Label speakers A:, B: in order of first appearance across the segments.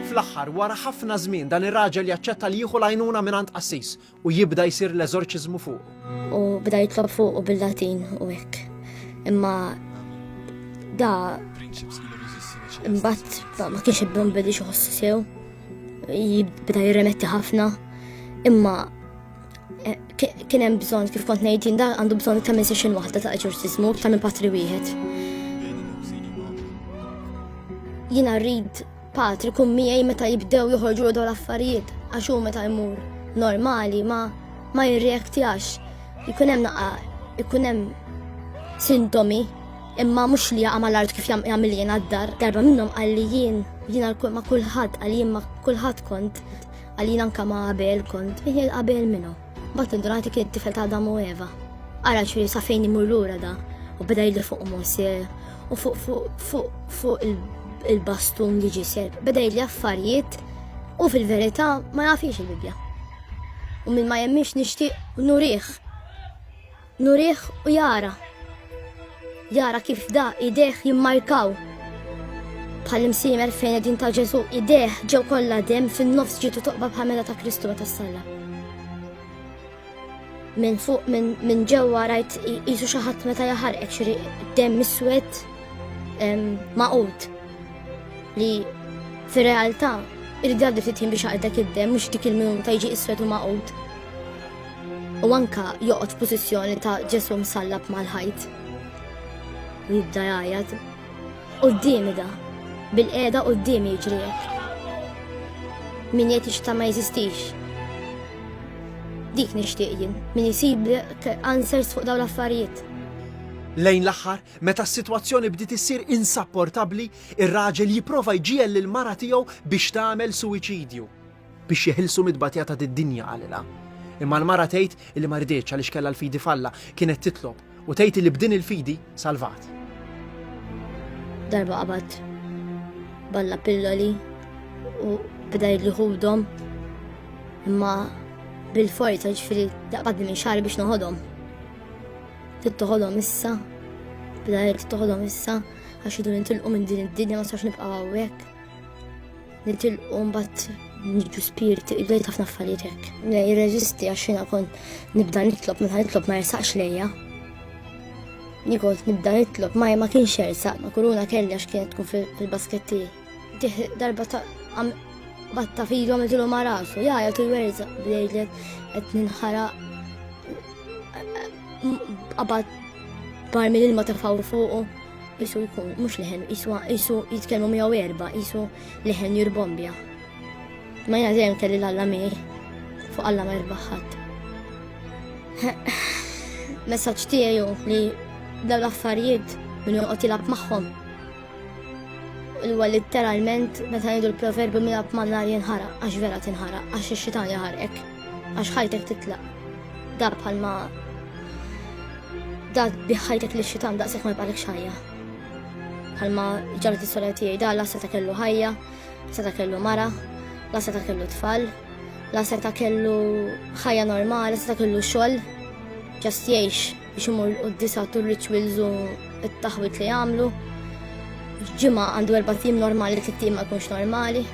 A: Fl-aħħar, wara ħafna żmien, dan ir-raġel jaċċetta li jieħu l-għajnuna mingħand qassis u jibda jsir l-eżorċiżmu fuqu. U bda jitlob
B: fuqu bil-Latin u hekk. Imma da imbagħad ma kienx ibben bedi xi ħossu sew. Jibda jirremetti ħafna. Imma Eh, kien hemm bżonn kif kont ngħidin da għandu bżonn ta' minn session waħda ta' eġorċiżmu ta' minn patri wieħed. Jiena rrid patri kum miegħi meta jibdew joħorġu dawn l-affarijiet għax hu meta jmur normali ma ma jirreaktjax. Ikun hemm naqa' ikun hemm sintomi imma mhux li jaqa' mal-art kif jagħmel jien għad-dar. Darba minnhom qal li jien jiena ma' kulħadd għal jien ma' kulħadd kont Għalina anka ma' Abel kont miħiel Abel minnu. Bat indunajt li kien tifel ta' Adam u Eva. Ara ċuri sa' fejn imur lura da u beda jidri fuq Mose u fuq fuq fuq fuq il-bastun li ġisel. Beda jidri affarijiet u fil-verità ma jafix il-Bibja. U minn ma jemmix nixtieq nurih Nurih u jara. Jara kif da idejh jimmarkaw. Bħal imsiemer fejn edin ta' Ġesu idejh ġew kollha dem fin-nofs ġitu toqba bħamela ta' Kristu meta salla. Minn fuq minn ġewwa rajt jisu xi ħadd meta jaħarqek xi dem miswed maqut li fir-realtà irrid jgħaddi ftit biex għaqdek id-dem mhux dik il-minuta jiġi iswed u maqut. U anka joqgħod f'pożizzjoni ta' Ġesu msallab mal-ħajt. U jibda jgħajjat. Qudiemi da, bil-qiegħda qudiemi jiġriek. Min jgħid ixta ma jeżistix. Dik nixtieq jien, min isib answers fuq dawn l-affarijiet. Lejn
A: l-aħħar, meta s-sitwazzjoni bdiet issir insapportabbli, ir-raġel jipprova jġiegħel lill-mara tiegħu biex tagħmel suwiċidju. biex jeħilsu mit-tbatija ta' did-dinja, qalilha. Imma l-mara tgħid illi ma riditx għaliex kellha l-fidi f'Alla, kienet titlob u tgħid illi b'din il-fidi salvat.
B: Darba qabad balla pilloli u bda jidli ħudhom imma bil-forza ġifiri daqbad minn xar biex noħodhom. Tittoħodhom issa, bda jgħid tittoħodhom issa għax idu nintilqu minn din id-dinja ma sax nibqgħu hawnhekk. Nitilqu mbagħad nġu spirit, għajt ħafna affarijiet hekk. Jirreżisti għax jiena kont nibda nitlob minn nitlob ma jersaqx lejja. Nikont nibda nitlob ma ma kienx jersaq, ma kuruna kelli għax kienet tkun fil-basketti. Tih darba ta' batta filu għamiltilu ma rasu, ja, jgħatu jwerza bdejlet għet ninħara għabad barmi l-ilma ta' fuqu. Isu jkun mhux leħen, isu isu jitkellmu miegħu erba, isu leħen jirbombja. Ma jiena dejjem kelli l-alla miegħi fuq alla ma jirbaħ ħadd. Messaġġ tiegħu li dawn l-affarijiet minn joqgħod jilgħab magħhom. Huwa litteralment meta ngħidu l-proverbju milab man-nar jinħaraq għax vera tinħaraq għax ix-xitan jaħarqek. Għax ħajtek titlaq. Da bħalma da biħħajtek li xitan daqshekk ma jibqalek xajja. Bħalma ġalet is-sora tiegħi da la seta kellu ħajja, seta kellu mara, la seta kellu tfal, la seta kellu ħajja normali, seta kellu xogħol, ġast jgħix biex imur u d-disa tur rituals u t-taħwit li jagħmlu. Ġimgħa għandu erba' tim normali, tliet tim ma jkunx normali.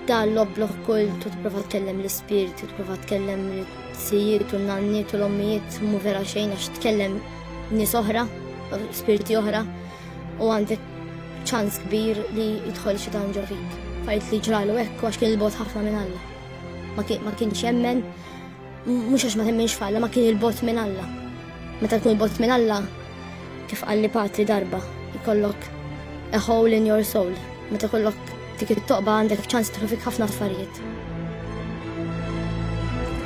B: Dan l-obblog kull tu tipprova tkellem l-ispirtu, tipprova tkellem l-sijiet u n-nanniet u l-ommijiet mu vera xejn għax tkellem nies oħra, spirti oħra u għandek ċans kbir li jidħol xi dan ġo fik. Fajt li ġralu hekk għax kien il-bot ħafna minn Alla. Ma kienx jemmen Mhux għax ma temminx f'Alla ma kien il-bot minn Alla. Meta tkun il-bot minn Alla, kif qalli patri darba, jkollok a hole in your soul. Meta kollok dik it-toqba għandek ċans tħafik ħafna affarijiet.